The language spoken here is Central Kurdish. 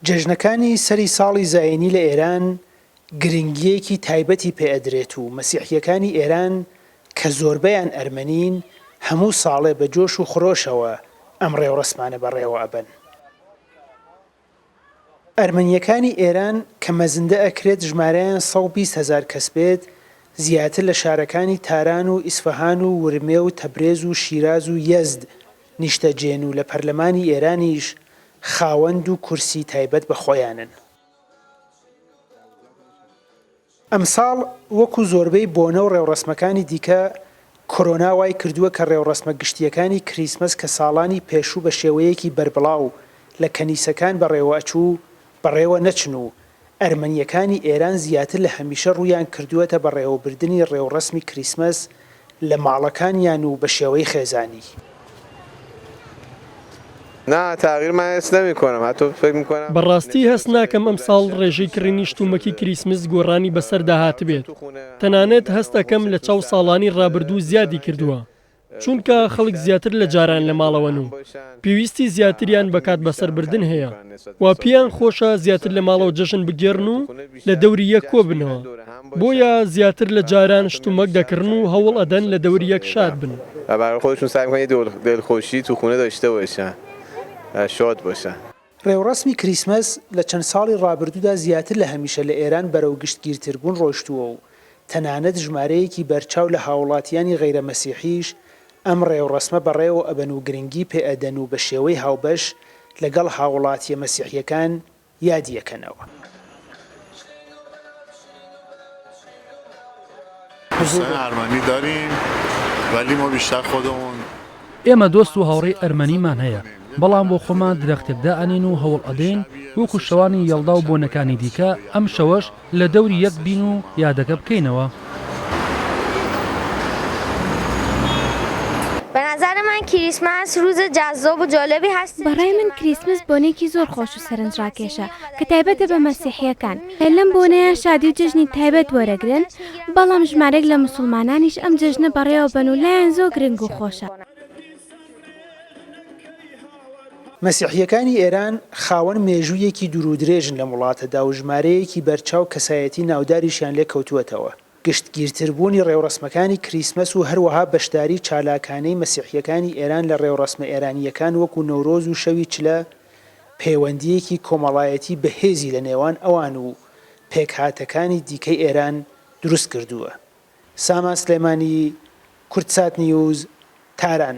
جەژنەکانی سەری ساڵی زایینی لە ئێران گرنگییەکی تایبەتی پێ ئەدرێت و مەسیحییەکانی ئێران کە زۆربەیان ئەرمەنین هەموو ساڵێ بە جۆش و خرۆشەوە ئەم ڕێوڕەسمانە بەڕێوە ئەبەن. ئەرمەنیەکانی ئێران کە مەزندە ئەکرێت ژمارەیان سەد و بیست هەزار کەس بێت، زیاتر لە شارەکانی تاران و ئیسفەهان و ورمێ و تەبرێز و شیراز و یەزد نیشتەجێن و لە پەرلەمانی ئێرانیش خاوەن دوو کورسی تایبەت بە خۆیانن. ئەمساڵ وەکو زۆربەی بۆنە و ڕێوڕەسمەکانی دیکە کۆرۆنا وای کردووە کە ڕێوڕەسمە گشتییەکانی کریسمەس کە ساڵانی پێشوو بە شێوەیەکی بەربڵاو لە کەنیسەکان بەڕێوەچوو، بەڕێوە نەچن و ئەرمەنییەکانی ئێران زیاتر لە هەمیشە ڕوویان کردووەتە بەڕێوەبردنی ڕێوڕەسمی کریسمەس لە ماڵەکانیان و بە شێوەی خێزانی. بە ڕاستی هەست ناکەم ئەم ساڵ ڕێژەی کڕینی شتومەکی کریسمس گۆڕانی بە سەردا هاتبێت، تەنانەت هەست ئەکەم لە چاو ساڵانی ڕابردوو زیادی کردووە، چونکە خەڵک زیاتر لە جاران لە ماڵەوەن و پێویستی زیاتریان بە کات بەسەر بردن هەیە و پێیان خۆشە زیاتر لە ماڵەوە جەژن بگێڕن و لە دەوری یەک کۆببنەوە، بۆیە زیاتر لە جاران شتومەک دەکڕن و هەوڵ ئەدەن لە دەور یەک شاد بن. ڕێوڕەسمی کریسمس لە چەند ساڵی ڕابردوودا زیاتر لە هەمیشە لە ئێران بەرەو گشتگیرتربوون ڕۆیشتووە و تەنانەت ژمارەیەکی بەرچاو لە هاووڵاتییانی غەیرە مەسیحیش ئەم ڕێوڕەسمە بەڕێوە ئەبەن و گرنگی پێئەدەن و بە شێوەی هاوبەش لەگەڵ هاووڵاتییە مەسیحییەکان یادییەکەنەوە. ئێمە دۆست و هاوڕێی ئەرمەنیمان هەیە، بەڵام بۆ خۆمان درەختێک دائەنێین و هەوڵ ئەدەین وەکو شەوانی یەڵدا و بۆنەکانی دیکە ئەم شەوەش لە دەوری یەک بین و یادەکە بکەینەوە. بەڕای من کریسمس بۆنەیەکی زۆر خۆش و سەرنجڕاکێشە کە تایبەتە بە مەسیحییەکان. لەم بۆنەیە شادی و جەژنی تایبەت وەرەگرن، بەڵام ژمارێک لە موسڵمانانیش ئەم جەژنە بەڕێوەبەن و لایان زۆر گرنگ و خۆشە. مەسیحییەکانی ئێران خاوەن مێژوویەکی دوورودرێژن لەم وڵاتەدا و ژمارەیەکی بەرچاو کەسایەتی ناوداریشیان لێ کەوتووەتەوە. گشتگیرتربوونی ڕێوڕەسمەکانی کریسمەس و هەروەها بەشداری چالاکانەی مەسیحییەکانی ئێران لە ڕێوڕەسمە ئێرانییەکان وەکوو نەورۆز و شەوی چلە، پەیوەندییەکی کۆمەڵایەتی بەهێزی لە نێوان ئەوان و پێکهاتەکانی دیکەی ئێران دروست کردووە. سامان سلێمانی، کوردسات نیوز، تاران.